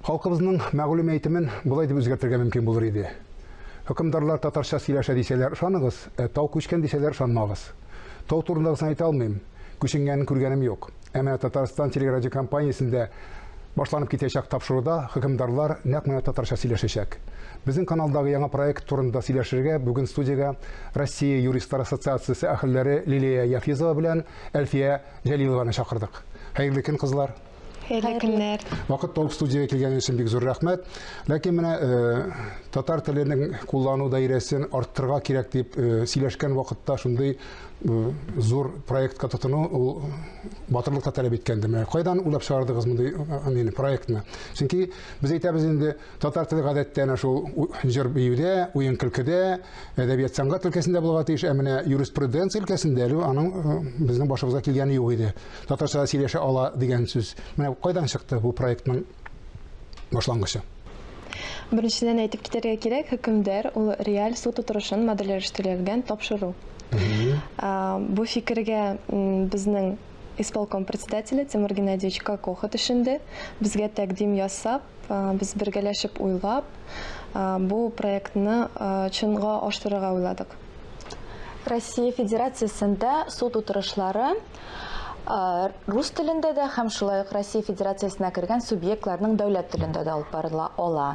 Халкыбызның мәгълүм әйтемен болай дип үзгәртергә мөмкин булыр иде. Хөкемдарлар татарча сөйләшә дисәләр, ышаныгыз, ә тау күчкән дисәләр, ышанмагыз. Тау турындагысын әйтә алмыйм, күченгәнен күргәнем юк. Ә менә Татарстан телерадиокомпаниясендә башланып китәчәк тапшыруда хөкемдарлар нәкъ менә татарча сөйләшәчәк. Безнең каналдагы яңа проект турында сөйләшергә бүген студиягә Россия юристлар ассоциациясе әһелләре Лилия Яфизова белән Әлфия Җәлилованы чакырдык. Хәерле көн, кызлар! Хәерле көннәр. Вакыт тауып студиягә килгәнегез өчен бик зур рәхмәт. Ләкин менә э, татар теленең куллану даирәсен арттырырга кирәк дип э, сөйләшкән вакытта шундый э, зур проектка тотыну ул батырлык та таләп иткәнде. Менә кайдан уйлап чыгардыгыз мондый мин проектны? Чөнки без әйтәбез инде татар теле гадәттә әнә шул җыр биюдә, уен көлкедә, әдәбият сәнгать өлкәсендә булырга тиеш, ә менә юриспруденция өлкәсендә әле аның безнең башыбызга килгәне юк иде. Татарча сөйләшә ала дигән сүз. Менә кайдан чыкты бу проектның башлангычы? Беренчедән әйтеп китәргә кирәк, хөкемдар ул реаль суд утырышын модельләштергән тапшыру. Бу фикергә безнең исполком председателе Тимур Геннадьевич Кокоха төшенде. Безгә тәкъдим ясап, без бергәләшеп уйлап, бу проектны чынга ашырырга уйладык. Россия Федерациясендә суд утырышлары Рус телендә дә һәм шулай ук Россия Федерациясенә кергән субъектларның дәүләт телендә дә алып барыла ала.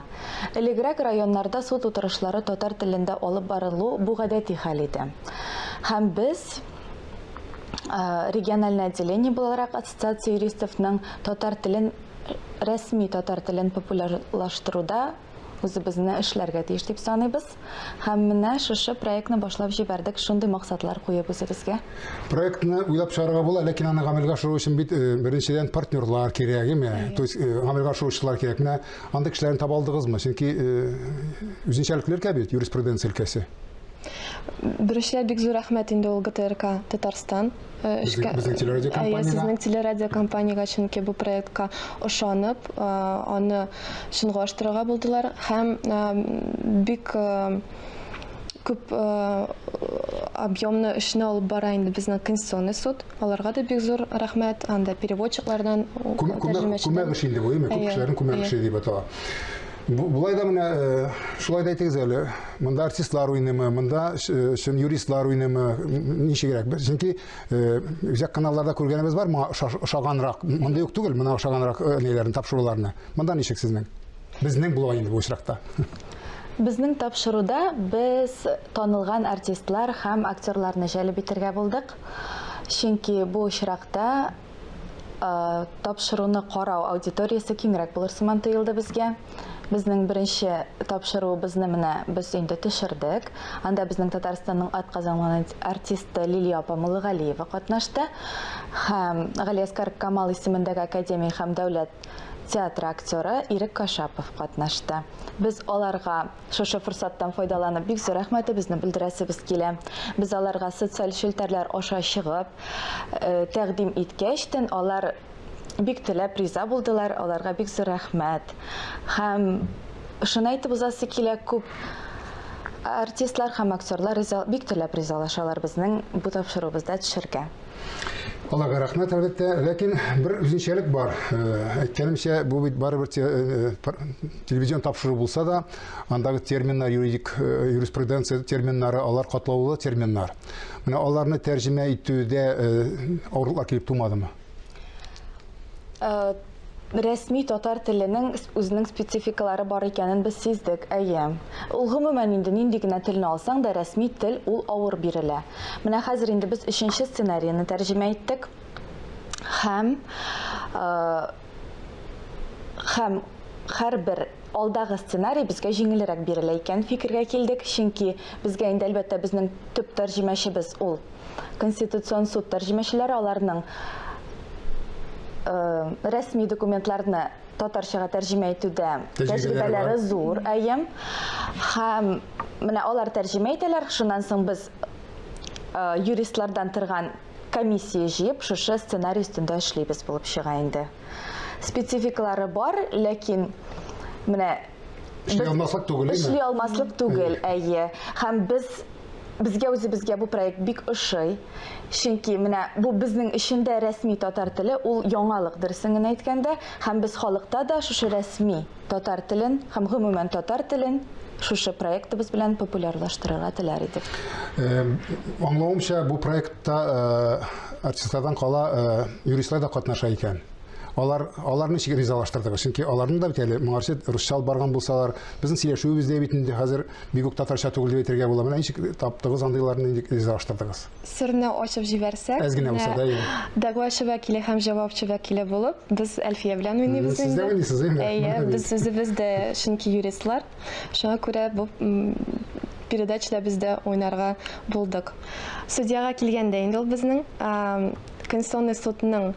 Элегрәк районнарда суд утырышлары татар телендә алып барылу бу гадәти хәл иде. Һәм без региональный отделение буларак ассоциация юристовның татар телен рәсми татар телен популярлаштыруда үзебезне эшләргә тиеш дип саныйбыз. Һәм менә шушы проектны башлап җибәрдек, шундый максатлар куеп үзебезгә. Проектны уйлап чыгарга була, ләкин аны гамәлгә ашыру өчен бит э, беренчедән партнерлар кирәк, әйме? То есть э, гамәлгә ашыручылар кирәк. Менә андый кешеләрне таба алдыгызмы? Чөнки э, үзенчәлекле өлкә бит, юриспруденция өлкәсе. Беренчедән бик зур рәхмәт инде ул ГТРК Татарстан эшкә безнең телерадиокомпаниягә ә, сезнең телерадиокомпаниягә чөнки бу проектка ошанып аны чынга ашырырга булдылар һәм бик күп объемны эшне алып бара инде безнең конституционный суд аларга да бик зур рәхмәт анда переводчиклардан күмәк эше инде бу күп кешеләрнең күмәк эше дип атала Болай да менә шулай да әйтегез әле, монда артистлар уйныймы, монда чын юристлар уйныймы, ничегрәк? Чөнки үзәк каналларда күргәнебез бар, моңа ошаганрак, монда юк түгел, моңа ошаганрак ниләрне тапшыруларны. Монда ничек сезнең? Безнең була инде бу очракта. Безнең тапшыруда без танылган артистлар һәм актерларны җәлеп итергә булдык. Чөнки бу очракта тапшыруны карау аудиториясе киңрәк булыр сыман тоелды безгә. Безнең беренче тапшыруыбызны менә без инде төшердек. Анда безнең Татарстанның атказанган артисты Лилия апа Муллыгалиева катнашты һәм Галиәскар Камал исемендәге академия һәм дәүләт театры актеры Ирек Кашапов катнашты. Без аларга Шушы форсаттан файдаланып, бик зур рәхмәтебезне белдерәсебез килә. Без аларга социаль челтәрләр аша чыгып, э, тәкъдим иткәчтен, алар бик теләп риза булдылар, аларга бик зур рәхмәт. Һәм шуны әйтеп узасы килә, күп артистлар һәм актерлар риза, бик теләп ризалашалар безнең бу тапшыруыбызда төшәргә. Аллага рәхмәт, әлбәттә. Ләкин бер үзенчәлек бар. Э, әйткәнемчә, бу бит барыбер э, телевизион тапшыру булса да, андагы терминнар, юридик э, юриспруденция терминнары, алар катлаулы терминнар. Менә аларны тәрҗемә итүдә авырлыклар килеп тумадымы? Рәсми татар теленең үзенең спецификалары бар икәнен без сиздек, әйе. Ул гомумән инде нинди генә телне алсаң да рәсми тел ул авыр бирелә. Менә хәзер инде без өченче сценарийны тәрҗемә иттек һәм һәм һәрбер алдагы сценарий безгә җиңелрәк бирелә икәнен фикергә килдек, чөнки безгә инде әлбәттә безнең төп тәрҗемәчебез ул Конституцион суд тәрҗемәчеләре аларның рәсми документларны татарчага тәрҗемә итүдә тәҗрибәләре зур, әйе. Һәм менә алар тәрҗемә итәләр, шуннан соң без юристлардан торган комиссия җыеп, шушы сценарий өстендә эшлибез булып чыга инде. Спецификалары бар, ләкин менә Эшли алмаслык түгел, әйме? Эшли алмаслык түгел, әйе. Хәм без безгә үзе безгә бу проект бик ошый. Чөнки менә бу безнең эчендә рәсми татар теле, ул яңалык дөресен генә әйткәндә, һәм без халыкта да шушы рәсми татар телен һәм гомумән татар телен шушы проектыбыз белән популярлаштырырга теләр идек. Аңлавымча, бу проектта артистлардан кала юристлар да катнаша икән. Алар аларны ничек ризалаштырдыгыз? Чөнки аларның да бит әле моңарчы русча алып барган булсалар, безнең сөйләшүебез дә бит инде хәзер бик үк татарча түгел дип әйтергә була. Менә ничек таптыгыз андыйларны, ничек ризалаштырдыгыз? Серне ачып җибәрсәк, Әз генә булса да, әйе. Дәгъвачы вәкиле һәм җавапчы вәкиле булып, без Әлфия белән уйныйбыз инде. Сез дә уйныйсыз, әйеме? Әйе, без үзебез дә чөнки юристлар. Шуңа күрә бу передачада без дә уйнарга булдык. Судьяга килгәндә инде ул безнең Конституционный судның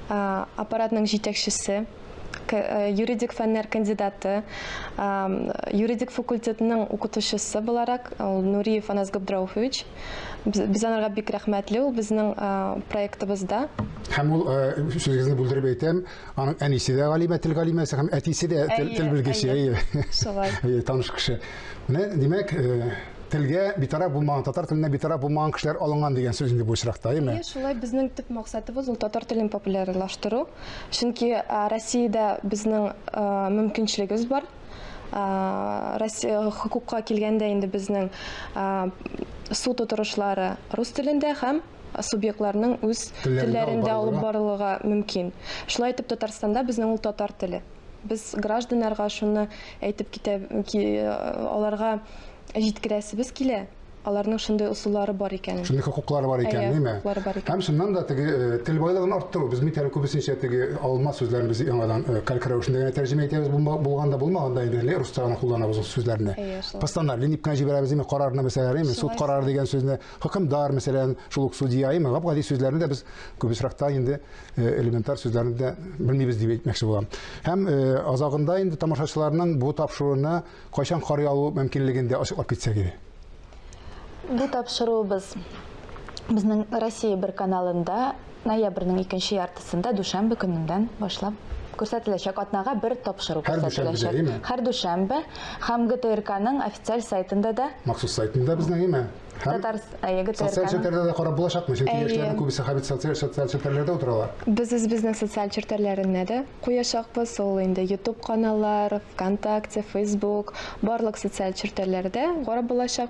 аппаратның җитәкчесе, юридик фәннәр кандидаты, юридик факультетның укытучысы буларак ул Нуриев Анас Габдрауфович. Без анарга бик рәхмәтле, ул безнең проектыбызда. Һәм ул, сүзегезне бүлдереп әйтәм, Аның әнисе дә галимә, тел галимәсе һәм әтисе дә тел белгече. Әйе. Шулай. Әйе, таныш кеше. Менә, димәк, э, телгә битараф булмаган, татар теленә битараф булмаган кешеләр алынган дигән сүз инде бу очракта, әйеме? Әйе, шулай безнең төп максатыбыз ул татар телен популярлаштыру. Чөнки Россиядә безнең мөмкинчелегебез бар. Россия хукукка килгәндә инде безнең суд утырышлары рус телендә һәм субъектларның үз телләрендә алып барылырга мөмкин. Шулай итеп Татарстанда безнең ул татар теле. Без гражданнарга шуны әйтеп китә аларга җиткерәсебез килә. Аларның шундый усуллары бар икән. Шундый хокуклары бар икән, әйе, хокуклары бар икән. Һәм шуннан да теге э, тел байлыгын арттыру. Без микәр күбесенчә теге алма сүзләрен без яңадан э, калькер рәвешендә генә тәрҗемә итәбез, булганда булмаганда инде русча гына кулланабыз ул сүзләрне. Постановление дип кенә җибәрәбез, карарны мәсәлән, суд карары дигән сүзне Хөкемдар, мәсәлән, шул ук судья, имам Габгади сүзләрне дә без күп очракта инде э, элементар сүзләрне дә белмибез дип әйтмәкче булам. Һәм э, азагында инде тамашачыларның бу тапшыруына кайчан карый алу мөмкинлеген дә ачыклап китсәк иде. Бу тапшыруыбыз безнең Россия бер каналында Ноябрьнең икенче яртысында дүшәмбе көненнән башлап күрсәтеләчәк. Атнага бер тапшыру Һәр дүшәмбедә, күрсәтеләчәк. әйме? Һәр дүшәмбе һәм ГТРКның официаль сайтында да Махсус сайтында безнең, әйме? Һәм Татар әйе, социаль ГТРКның челтәрләрдә дә карап булачакмы? Чөнки Әйе. яшьләрнең күбесе хәбит социаль социаль челтәрләрдә утыралар. Без үзебезнең социаль челтәрләренә дә куячакбыз. Ул инде Ютуб каналлар, Вконтакте, Фейсбук, барлык социаль челтәрләрдә карап булачак.